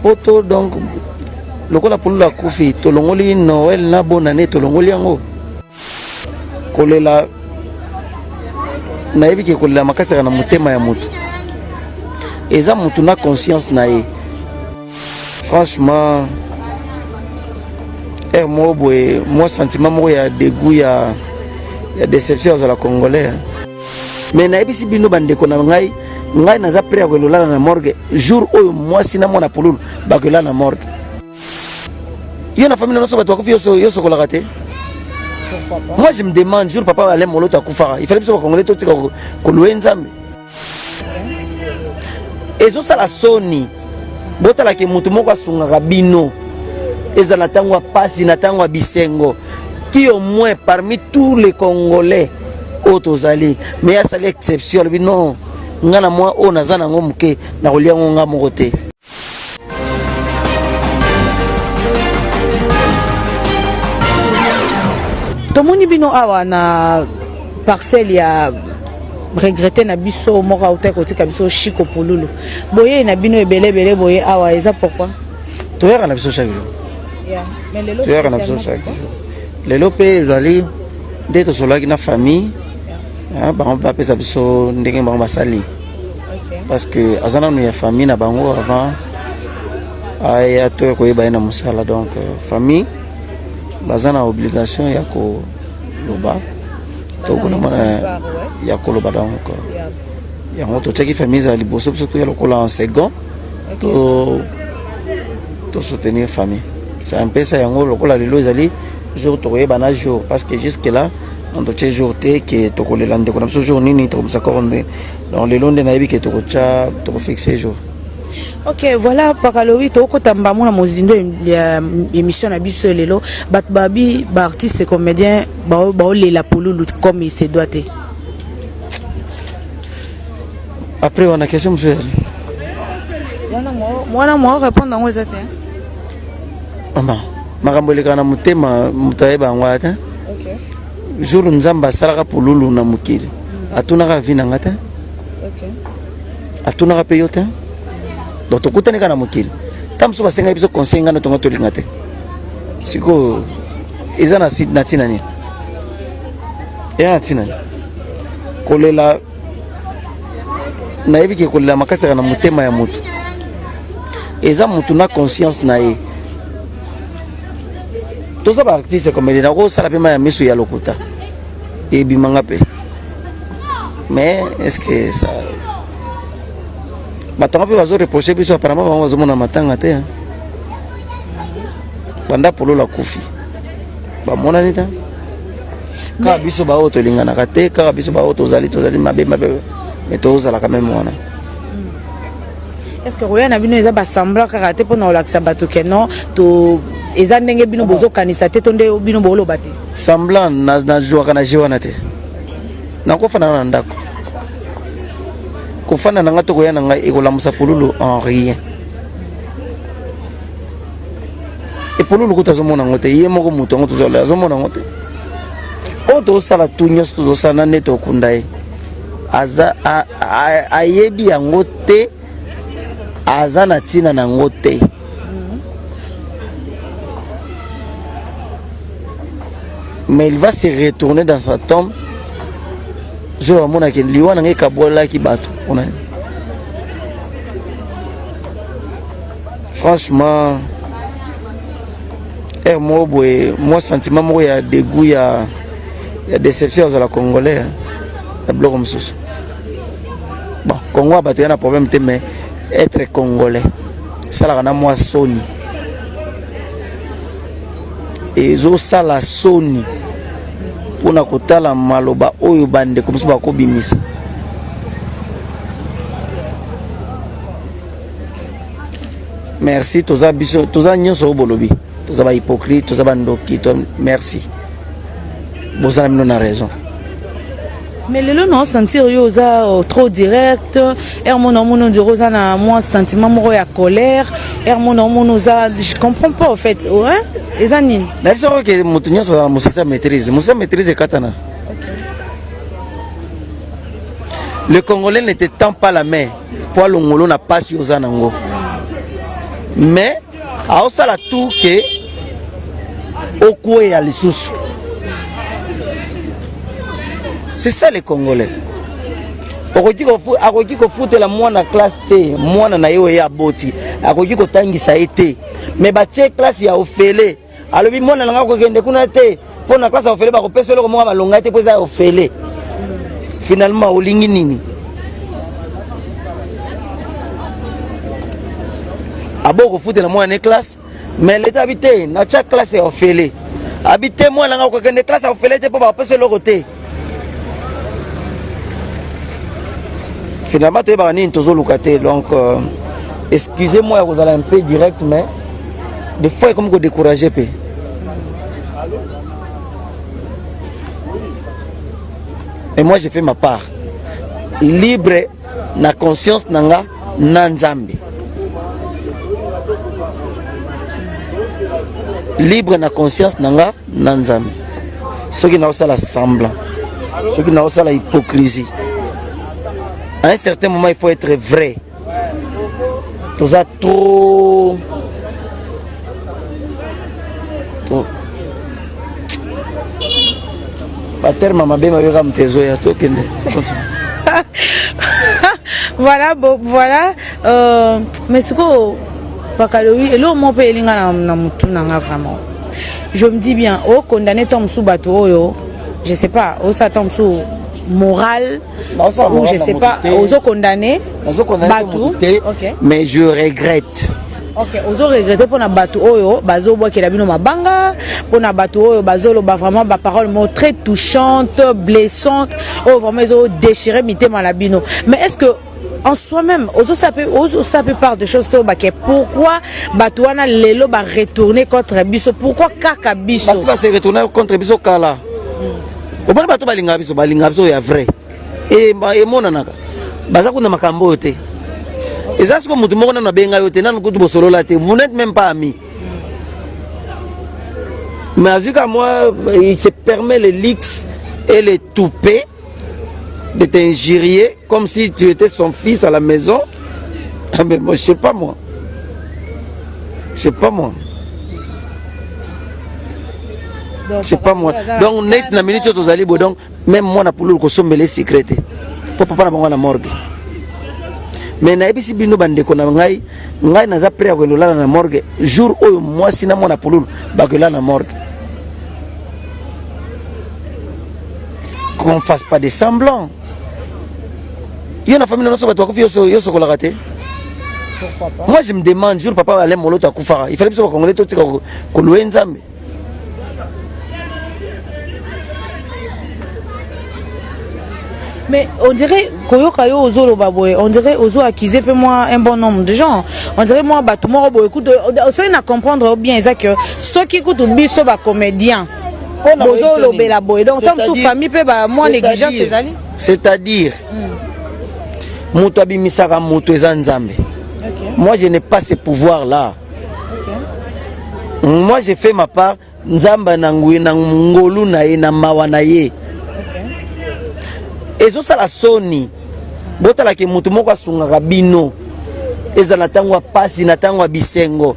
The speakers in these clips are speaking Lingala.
Poto donc lokola pulula kufi tolongoli Noël na bonne année tolongoli yango kolela nayebi ke kolela makasi na motema ya moto eza moto na conscience na ye franchement heure moko boye mwa sentiment moko ya degout ya, ya déception azala congolais Mais nayebisi bino bandeko na ngai ngai naza prêt ya kolela na morgue jour oyo mwasi na mwana pululu bakolela na morgue yo na famille nyonso bato bakufi yo sokolaka te moi je me demande jour papa alain moloto akufaka ifali biso bakongole totika kolue nzambe ezosala soni botalaki moto moko asungaka bino ezala ntango ya mpasi na ntango ya bisengo qui au moins parmi tous les congolais oyo tozali mais asali exception alobi non ngai na mwa oyo naza nango moke nakolia yango ngai moko te tomoni bino awa na parcelle ya regrete na biso moko autai kotika biso shiko pululu boyei na bino ebele ebele boye awa eza pourkui toyaka na biso chaque jour toyaka na biso chaque jour lelo mpe ezali nde tosololaki na famille ah, bango bapesa biso ndenge bango basali parce que aza nanu ya famille na bango avant aya to ya koyeba ye na mosala donc euh, famille baza na obligation ya koloba to kolomona ya koloba donc euh, yango totiaki famille ezala liboso biso toya lokola en second to soutenir famille ça mpesa yango lokola lelo ezali jour tokoyeba na jour parce que jusque là totie jour te ke tokolela ndeko na biso jour nini tokomisa koro nde donc lelo nde nayebi ke tokotya tokofixe jour ok voilà pakalowi tokokota mbango na mozindo ya émission na biso lelo bato babi baartiste comédien baolela pululu comme il se doit te après wana question mosusu ezali wana mwa répondre yango eza te mama makambo elekaka na motema moto ayeba yango ata jour nzambe asalaka pululu na mokili atunaka vi na nga te atunaka mpe yo te donc tokutani kaka na mokili ntango mosusu basengaki biso conseil ngai na tongo tolinga te sikoyo eza na ntina nini eza na ntina nini kolela nayebi ke kolela makasi na motema ya moto eza moto na conscience na ye toza baartiste komede nakosala mpe ma ya miso ya lokuta ebimanga mpe mais est ce que ça bato yango mpe bazoreproche biso aparama bango bazomona matanga te banda polola kufi bamonani ta kaka biso baoyo tolinganaka te kaka biso baoyo tozali tozali mabe mabe me tozalaka meme wana hmm. est ce que koya na bino eza basemblant kaka te mpona kolakisa bato ke non to eza ndenge bino ah. bozokanisa te to nde bino booloba te semblant nazwaka na je wana te nakofanana na ndako kofanda na ngai to koya na ngai ekolamusa pululu en rien epolulu kutu azomona yango te ye moko moto yango tozala azomona yango te oyo tozosala tu nyonso tozosala na neti okunda ye aza ayebi yango te aza na ntina na yango te mais il va se retourner dans sa tombe zo bamonaki liwa na ngai ekabolaki bato mpona franchement heure moko boye mwa sentiment moko ya degout ya, ya déception azala congolais na biloko mosusu bon congo ya bato ya na problème te mais être congolais esalaka na mwa soni ezosala soni mpo na kotala maloba oyo bandeko mosusu bakobimisa merci toza biso toza nyonso oyo bolobi toza ba hypocrite toza ba ndoki to merci boza na bino na raison mais lelo na osentir yo oza euh, trop direct ere mona omona ondire oza na mwa sentiment moko ya colère ere mona omona oza je comprends pas au fait ouais? eza nini na biso oke moto nyonso azala mosisa maîtrise mosisa maîtrise ekatana le congolais ne te tend pas la main mpo alongolo na pasi oza nango mais aosala tour ke okweya lisusu c'est ça les congolais akoki kofutela mwana classe te mwana na ye oye aboti akoki kotangisa ye te me batie classe ya ofele alobi mwana na ngai kokende kuna te mpo na klase ya ofele bakopesa eloko moko malonga te mpo eza ya ofele finalement olingi nini abo kofutela mwana ne classe mais leta abi te natya classe ya ofele abi te mwana ngai okokende classe ya ofele te mpo bakopesa eloko te finalement toyebaka nini tozoluka te donc euh, excusez moi ya kozala un peu direct mais des fois ekomi kodécourage mpe mais moi j'ai fait ma part libre na conscience na nga na nzambe libre na conscience na nga na nzambe soki naosala semblant soki naosala hypocrisie à un certain moment il faut être vrai toza trop baterme mabe mabe kaka moto ezoya tokende voilà bo, voilà euh, mais sikoyo bakalobi eloko moko mpe elinga na, na motu na nga vraiment je me dis bien okondane oh, ntango mosusu bato oyo je sais pas osala oh, ntango mosusu moral ou je sais pas ozo condamner bato okay. mais je regrette ok ozo regrette mpo na bato oyo bazobwakela bino mabanga mpo na bato oyo bazoloba vraiment baparole mo très touchante blessante oyo vraiment ezodéchire mitema na bino mais est ce que en soi-même ozosa mpe part de choses to bake pourquoi bato wana lelo baretourne contre biso pourquoi kaka biso basi base retourne contre biso kala omoni bato balingaka biso balingaka biso ya vrai e, emonanaka baza kuna makambo oyo te eza siko motu moko nano abenga yo te nano kutu bosolola te vous n'êtes même pas ami mais azwi ka moi il se permet le lix et le toupe de t'injurier Comme si tu étais son fils à la maison. Ah, mais moi, je sais pas moi. Je sais pas moi. c'est pas moi donc net na minute oyo tozali boye donc même mwana pululu kosombela secret te mpo papa na bango na morgue mais nayebisi bino bandeko na ngai ngai naza pre ya koyenda olala na morgue jour oyo mwasi na mwana pululu bakoyela na morgue qu'on fasse pas de semblant yo na famille na nyonso bato bakufi yo sokolaka te moi je me demande jour papa alain moloto akufaka il fallait biso bakongole totika koloye nzambe mais on dirait koyoka yo ozoloba boye on dirait ozo accuser mpe mwa un bon nombre de gens on dirait mwa bato moko boye kutu osali na comprendre bien eza que soki kutu biso bacomédien bozolobela boye donc ntango mosusu famille mpe bamwa négligence ezali c'est-à-dire hmm. moto abimisaka moto eza nzambe moi je n'ai pas ce pouvoir là moi je fais ma part nzambe na ngui na ngolu na ye na mawa na ye ezosala soni botalake moto moko asungaka bino eza na ntango ya mpasi na ntango ya bisengo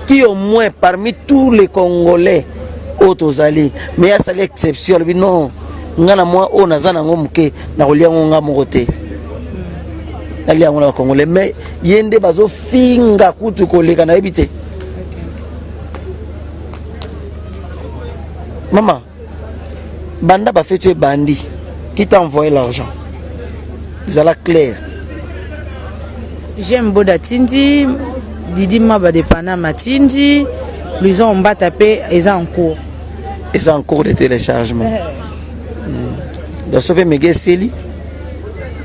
qui au moins parmi tous les congolais oyo tozali mais asali exception alobi non ngai na mwa oyo naza nango moke nakolia yango ngai moko te nalia yango na bacongolais mais ye nde bazofinga kutu koleka nayebi te mama banda ba feti ebandi qui t'a envoyé l'argent zala clair j'aime boda tindi didi maba de panama tindi luison mbata pe eza en cours eza en cours de téléchargement eh. hmm. donc sope mege eseli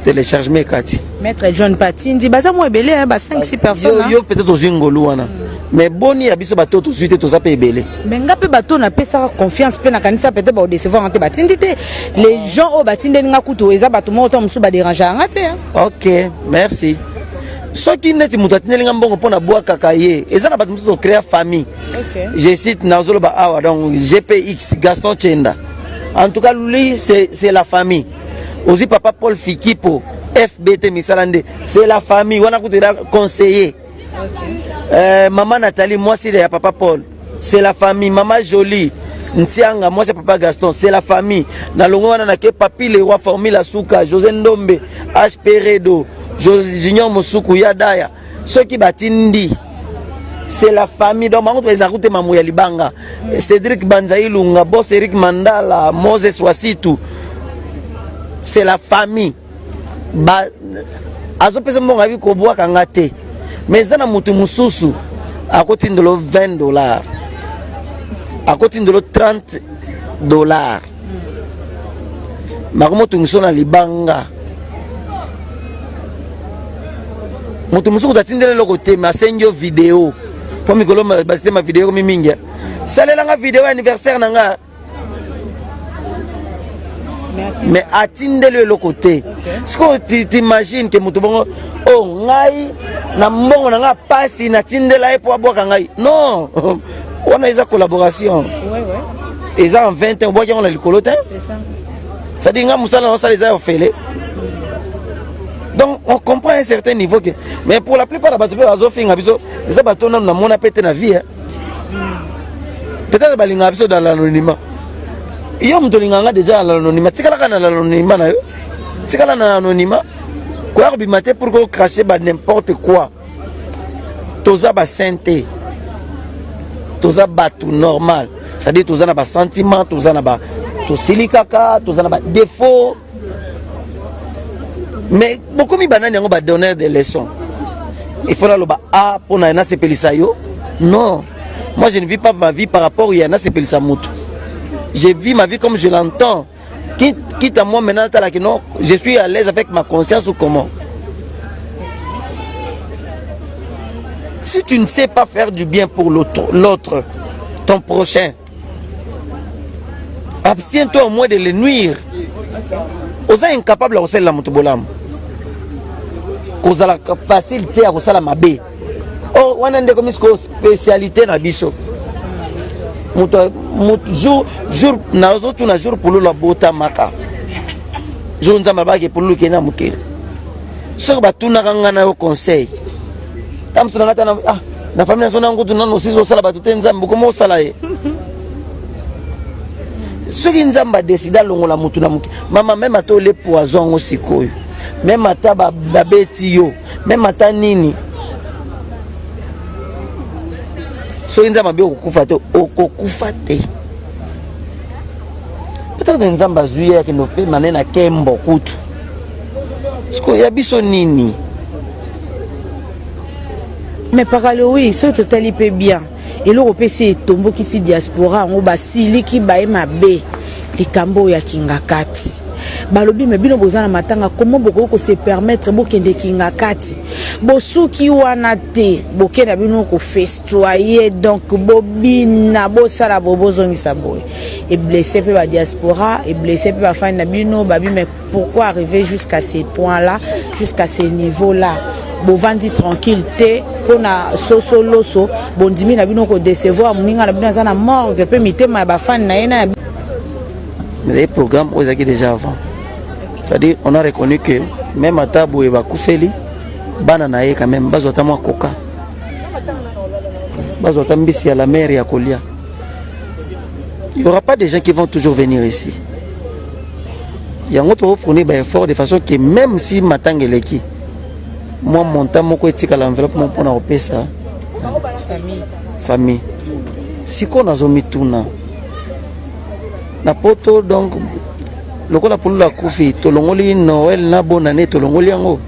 telechargement ekati maître john patindi baza mwa ebele ba 5 6 personnes yo peut-être ozwi ngolu wana mais boni ya biso bato tozwi te toza mpe ebele mais nga mpe bato napesaka confiance mpe nakanisa peut-être baodecevoir nga te batindi te les gens oyo batindeli nga kutu eza bato moko to mosusu baderangea nga te ok merci soki neti moto atindeli nga mbongo mpo na bwakaka ye eza na bato mosusu tokrea famille je cite nazoloba awa donc gpx gaston chenda en tout cas lui c'est la famille ozwi papa paul fikipo fbt misala nde c'est la famille wana kutu eza conseiller euh, mama nathalie mwasi ya papa paul c'est la famille mama jolie ntianga mwasi ya papa gaston c'est la famille na longo wana nake papi lewa formule asuka josé ndombe hp redo junior mosuku ya daya soki batindi c'est la famille donc bango toeza kute mamu ya libanga cédric banza ilunga bos eric mandala moses wasitu c'est la famille ba azopesa mbongo abi kobwaka nga te mais eza na motu mosusu akotindelo 20 dollar akotindelo 30 dollar mako motungiso na libanga moto mosusu kutu atindela eloko te me asengi yo video mpo mikolo basi te mavideo ekomi mingi eh. salela nga video ya anniversaire na nga me atindeli yo eloko te sikoyo t'imagine ke moto bongo o oh, ngai na mbongo na ngai mpasi natindela ye mpo abwaka ngai non wana eza collaboration eza en 20 ans obwaki yango na likolo te cestadire nga mosala na osala eza ya ofele donc on comprend un certain niveau que mais pour la plupart ya bato mpe bazofinga biso eza bato nanu namona mpe te na vie hein? peut-être balingaka biso dans l'anonymat yo moto olingaka nga déjà na l'anonymat tikalaka na l'anonymat na yo tikala na l'anonymat koya kobima te pour ko cracher ba n'importe quoi toza ba saint te toza bato normal c'est-à-dire toza na basentiment toza na ba tosili kaka toza na badefaut mais bokomi banani yango badonneur de leçon il faut naloba a ah, mpo na nasepelisa yo non moi je ne vis pas ma vie par rapport ya nasepelisa moto je vis ma vie comme je l'entends Quitte, quitte à moi maintenant, tala que non, je suis à l'aise avec ma conscience ou comment Si tu ne sais pas faire du bien pour l'autre, ton prochain, abstiens-toi au moins de le nuire. oza incapable ya kosalela moto bolamu kozalaka facile te ya kosala mabe Oh, wana nde komi sikoyo spécialité na biso moto jour jour nazotuna jour pululu abotamaka jour nzambe abaki pululu kende na mokili soki batunaka ngai na yo conseil ta mosu na ngai ta na ah, na famille nazo na ngutu nano osisi osala bato te nzambe bokoma osala ye soki nzambe adeside alongola motu na moke mama meme ata ole poison yango sikoyo meme ata babeti yo meme ata nini soki nzambe abi okokufa te okokufa te peut-être nzambe azwi ye akende opema nde na kembo kutu sikoyo ya biso nini mais pakalowi soki totali mpe bien eloko mpe se etombokisi diaspora yango basiliki baye mabe likambo oyo ya kingakati balobi me bino boza na matanga komo bokoki kose permettre bokende kingakati bosuki wana te boke na bino kofestoye donc bobina bosala bo bozongisa boye eblesse mpe badiaspora eblesse mpe bafani na bino babime Pourquoi arriver jusqu'à ces points là, jusqu'à ces niveaux là? bovandi tranquille te mpo na soso loso bondimi na bino kodecevoir moninga na bino aza na morgue mpe mitema ya bafani na ye na ezali programme oyo ezalaki déjà avant c'est-à-dire on a reconnu que même ata boye bakufeli bana na ye quand même bazwa ata mwa koka bazwa ata mbisi ya la mer ya kolia il y aura pas des gens qui vont toujours venir ici yango tokofournir baeffort de façon que même si matanga eleki mwa montant moko etikala enveloppe moko mpona kopesa famille sikoyo nazomituna na poto donc lokola pululu akufi tolongoli noel na bonane tolongoli yango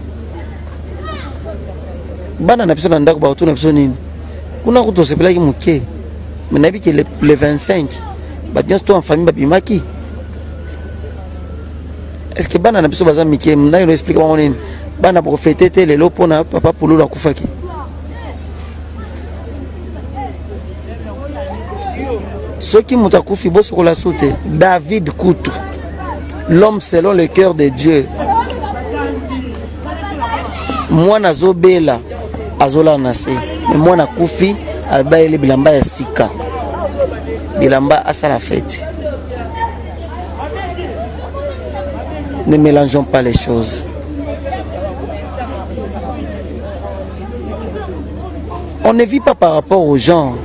bana na biso na ndako bakotuna biso nini kuna kutu osepelaki moke me nayebi ke le 25 bato nyonso to en famille babimaki est-ce que bana na biso baza mike naino explike bango nini bana profete te lelo mpona papa pululu akufaki soki moto akufi bosokola su te david kutu l'homme selon le cœur de dieu mwana azobela azolala na se me mwana akufi abayeli bilamba ya sika bilamba asala feti ne mélangeons pas les choses on ne vit pas par rapport aux gens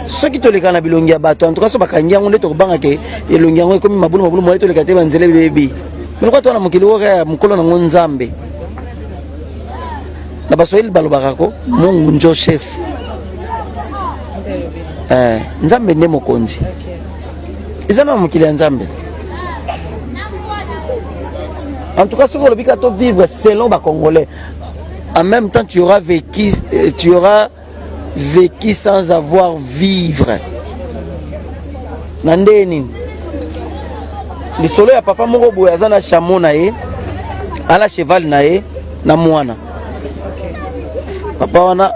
soki toleka na bilongi ya bato en tout cas so bakangi yango nde tokobanga ke elongi yango ekomi mabulu mabulu mole toleka te banzela ebebi meloko to wana mokili oyo ya mokolo nango nzambe na baswahili balobaka ko mungu njo chef eh, nzambe nde mokonzi eza na mokili ya nzambe en tout cas soki olobi ka to vivre selon bacongolais en même temps tu auras vécu tu auras Veki sans avoir vivre. Na ndenge nini? Lisolo ya papa moko boye aza na chameau na ye, ala cheval na ye na mwana. Papa wana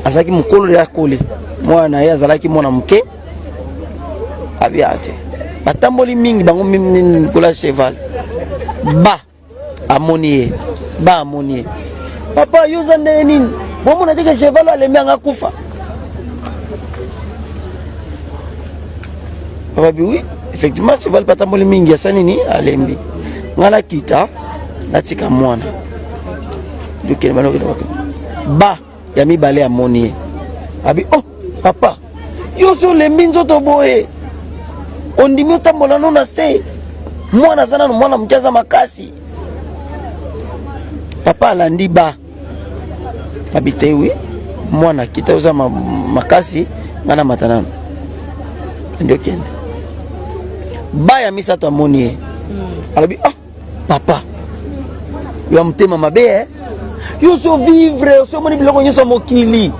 azalaki mokolo ya koli, mwana na ye azalaki mwana moke, abia te. Batamboli mingi bango mimi kola cheval. Ba amoni ye ba amoni ye papa yo oza ndenge nini bomona te ke cheval alembi anga kufa papa bi oui effectivement cheval patamboli mingi asali nini alembi ngai nakita natika mwana lokele banokende ba ya mibale amoni ye abi oh papa yo osi olembi nzoto boye ondimi otambola no na se mwana aza nano mwana moke aza makasi papa alandi ba abi te wi mwana kita oza makasi ngai na mata nano nde okende ba ya misato amoni ye hmm. alobi ah papa yo motema mabe eh? yo oso vivre oso omoni biloko nyonso ya mokili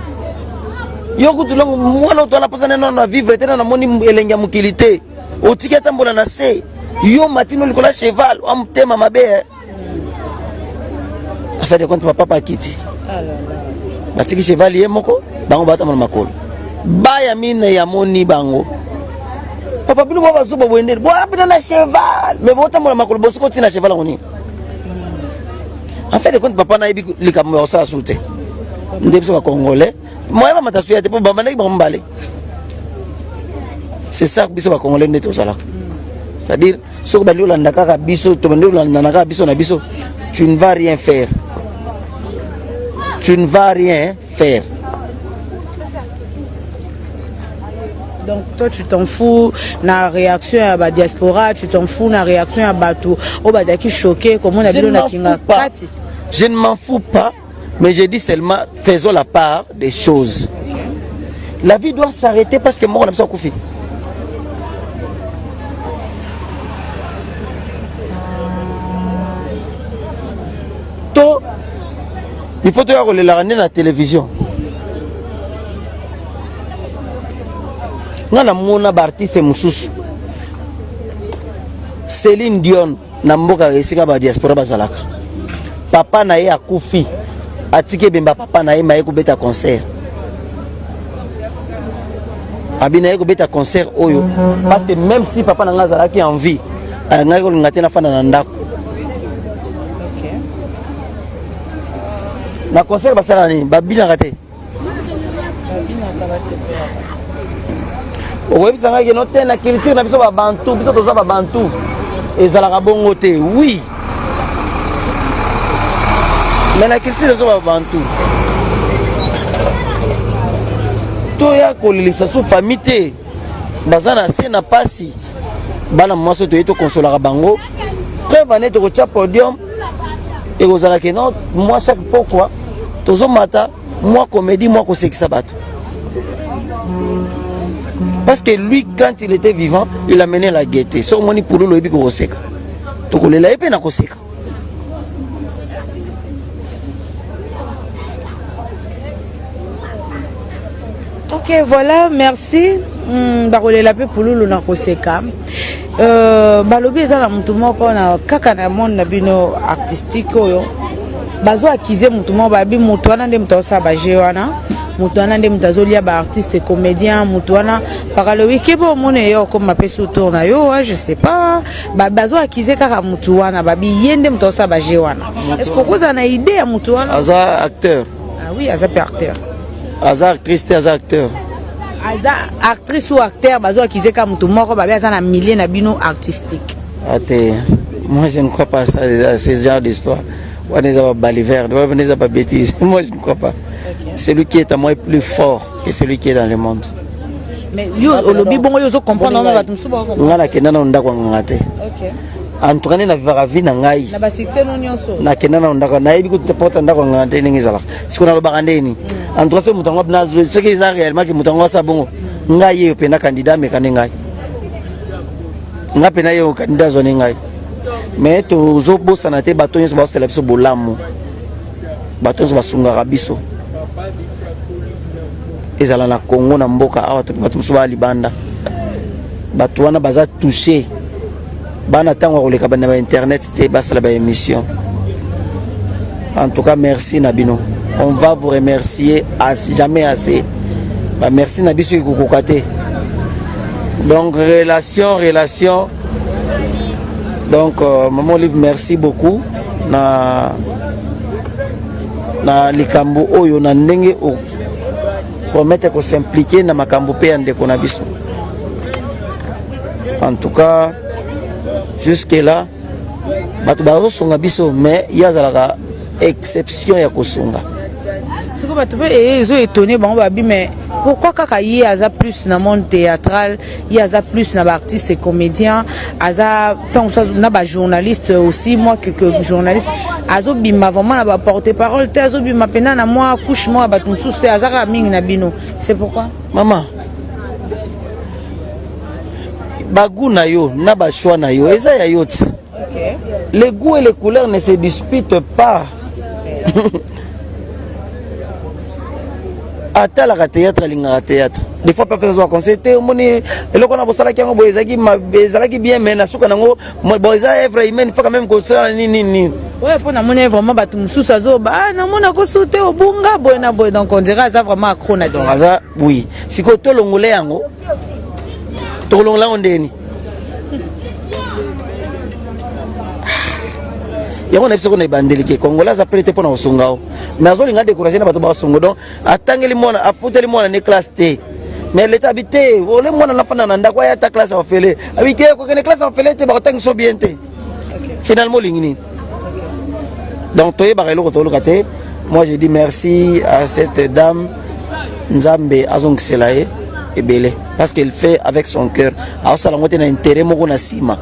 yo kutu longo mwana oto anapasana nano na vivre te na namoni elengi ya mokili te otiki atambola na se yo matino likolo ya cheval wa motema mabe eh? affaire de compte papapa akiti batiki cheval ye moko bango batambola makolo baya mine yamoni bango papa bino bwa bazuba boye ndeni boya bino na cheval me botambola makolo bosi kotii na cheval yango nini en fait de compte papa nayebi likambo ya kosala su te nde biso bacongolais moya bamata suya te mpo babandaki bango mibale c'est ça biso bacongolais nde tozalaka c'est-à-dire soki bandi olanda kaka biso tobandi olandana kaka biso na biso tu ne vas rien faire tu ne vas rien Ferre. Donc toi tu t'en fous na réaction ya ba diaspora, tu t'en fous na réaction ya bato oyo bazalaki choqué comment na bino na kinga kati. Je ne m'en fous pas, mais je dis seulement faisons la part des choses. La vie doit s'arrêter parce que moko na biso akufi. il faut toya kolelaka nde na télévision nga namona baartiste mosusu Céline Dion na mboka esika ba diaspora bazalaka papa na ye akufi atiki ebemba papa na ye maye kobeta concert abi na ye kobeta concert oyo parce que même si papa na ngai azalaki en vie alingaki kolinga te nafanda na ndako na concert basala nini babinaka te okoyebisa ngai keno te na culture na biso babantu biso toza babantu ezalaka bongo te wi me na culture na biso babantu toya kolelisa su famille te baza na se na pasi bana mwasi toye tokonsolaka bango preuve ane tokotya podium ekozala ke no mwa chaque pokwa tozomata mwa komedi mwa kosekisa bato parce que lui quand il était vivant il amenait la gaieté so omoni pululu oyebi kokoseka tokolela ye mpe nakoseka ok voilà merci mm, bakolela mpe pululu na koseka euh, balobi eza na motu moko na kaka na monde na bino artistique oyo bazo akize motu moko babi motu wana nde moto aosala baje wana moto wana nde moto azolia baartiste comédien moto wana bakalobi keba omona eyo okoma mpe sutour na yo je sais pas ba bazo akize kaka mutu wana babi ye nde moto asala baje wana est ce que okozala na idee ya motu wana aza acteur ah oui aza mpe acteur aza actrice te aza acteur aza actrice ou acteur bazo akize kaka motu moko babi aza na milieu na bino artistique ate ah, moi je ne crois pas ça à ce genre d'histoire wana eza ba baliverde wana eza ba bêtise moi je ne crois pas celui qui est à moi plus fort et celui qui est dans le monde mais yo olobi bongo yo ozo comprendre wana bato mosusu bako ngai nakenda nano ndako ya nganga te en tout cas nde na vivaka vie na ngai na basuccès no nyonso nakenda nano ndako nayebi kutu porte ya ndako ya nganga te ndenge ezalaka siko nalobaka nde nini en tout cas soki moto yango nazwi soki eza réellement ke moto yango asa bongo ngai yeyo mpe na candidat ameka nde ngai ngai mpe nayeyo candidat azwa nde ngai mais tozobosana te bato nyonso baosala biso bolamu bato nyonso basungaka biso ezala na congo na mboka awa to bato mosusu baa libanda bato wana baza touche bana ntango ya koleka na bainternet te basala baémission en tout cas merci na bino on va vous remercier as, jamais assez bamerci na biso ekokoka te donc relation relation donc euh, maman olive merci beaucoup na na likambo oyo na ndenge o promettre ko s'impliquer na makambo mpe ya ndeko na biso en tout cas jusque là bato bazosunga biso mais ye azalaka exception ya kosunga siko bato mpe ezo etone bango babi mais pourquoi kaka ye aza plus na monde théâtral ye aza plus na baartiste et comédien aza ntango mosusu na bajournaliste aussi moi quelque journaliste azobima vraiment na baporte parole te azobima mpena na mwa couche moko ya bato mosusu te aza kaka mingi na bino c'est pourquoi mama bagu na yo na bashoi na yo eza ya yo ti Les goûts et les couleurs ne se disputent pas. atalaka théâtre alingaka théâtre des fois papa azwa conseil te omoni eloko na bosalaki yango boye ezalaki ezalaki bien mais na suka nango bon eza œuvre humaine faka meme kosala nini nini oyo mpo namoni vraiment bato mosusu azoba ah, namona kosu te obunga boye na boye donc ondira aza vraiment acro na donc aza oui sikoyo tolongole yango tokolongola yango ndeni yango nayebi soko na ebandeli ke kongola aza prete mpo na kosunga yo mais azolinga décourage na bato basungo donc atangeli mwana afuteli mwana ne classe te mais leta abi te ole mwana nafanda na ndako aya ata classe ya ofele abi te kokende classe ya ofele te bakotangisa bien te finalement olingi nini donc toyebaka eloko toluka te moi je dis merci à cette dame nzambe azongisela ye ebele parce qu'elle fait avec son cœur aosala yango te na intérêt moko na nsima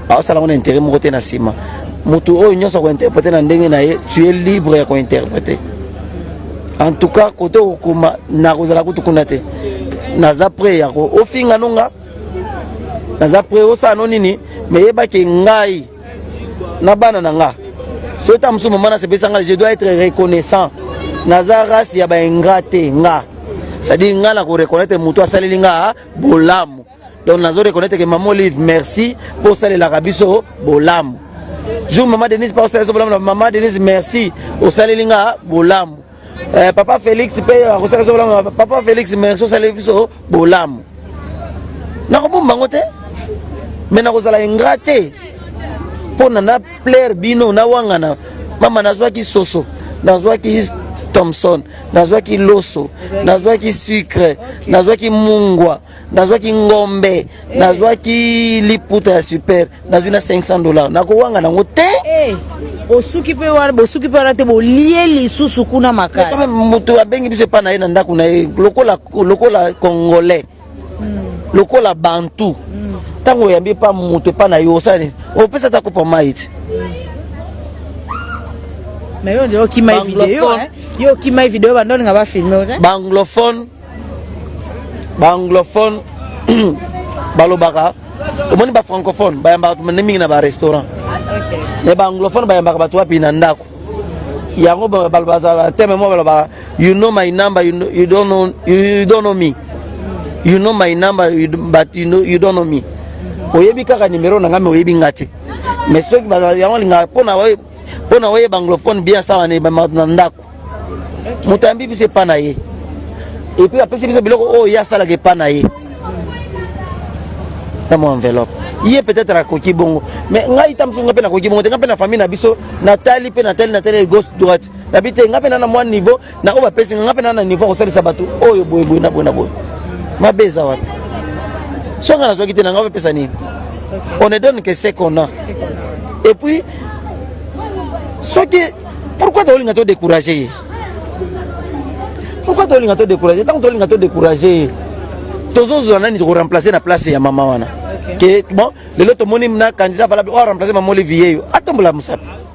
aosala yango na intérêt moko te na nsima motu oyo nyonso akointerprete na ndenge na ye tu es libre ya kointerprete en tout cas kote okokoma nakozala kutu kuna te naza pre yako ofinga nonga naza pre osala no nini meyeba ke ngai na bana na nga soki ta mosusu mama nasepesa ngai je dois être reconnaissant naza race ya baingra te nga cestadire ngai na koreconnaitre motu asaleli nga bolamu donc nazo reconnaitre ke mama olive merci mpo osalelaka biso bolamu jour mama denise pa osaleli biso bolamu na mama denise merci osaleli nga bolamu Eh, papa Felix pe akosala biso bolamu papa Felix merci osali biso bolamu nakobomba yango te me nakozala ingra te mpo na na plaire bino nawangana mama nazwaki soso nazwaki thomson nazwaki loso nazwaki sucre nazwaki mungwa nazwaki ngombe nazwaki liputa ya super nazwi na 500 dollars nakowanga nango te eh, osuki mpe wana bosuki mpe wana te bolie lisusu kuna makasi moto abengi biso epai na ye na ndako na ye lokola, lokola congolais hmm. lokola bantu hmm. ntango mm. oyambi epa moto epai na yo osala nini opesa ata kopa mai ti na yo nde okima video yo okima video bandolinga bafilme banglophone ba anglophone balobaka omoni ba francophone bayambaka tumande mingi na ba restaurant mais ba anglophone bayambaka bato wapi na ndako yango bazala teme moko balobaka you know my number you, know, you, don't know, you, you don't know me you know my number you, but you, know, you don't know me oyebi kaka nimero na ngai me oyebi ngai te mais soki yango linga mpona oyeba anglophone bien asawa na ndako moto ayambi biso epa na ye epuis apesi biso biloko oyo ye asalaka epa na ye na mwa enveloppe ye peut-être akoki bongo mais ngai ta mosusu ngai mpe nakoki bongo te ngai mpe na famille na biso natali mpe natali natali gauche droite nabi te ngai mpe na na mwa niveau na oyo bapesi ngai mpe na na niveau akosalisa bato oyo boye boye na boye na boye mabe eza wapi so ngai nazwaki te na ngai bapesa nini on ne donne que ce qu'on a et puis soki pourquoi tolinga to décourager ye pourquoi tolinga to décourager ntango tolinga to décourager ye tozozwa nani tokoremplace na place ya mama wana ke bon lelo tomoni na candidat valable oyo aremplace mama olivier yo atombola mosapi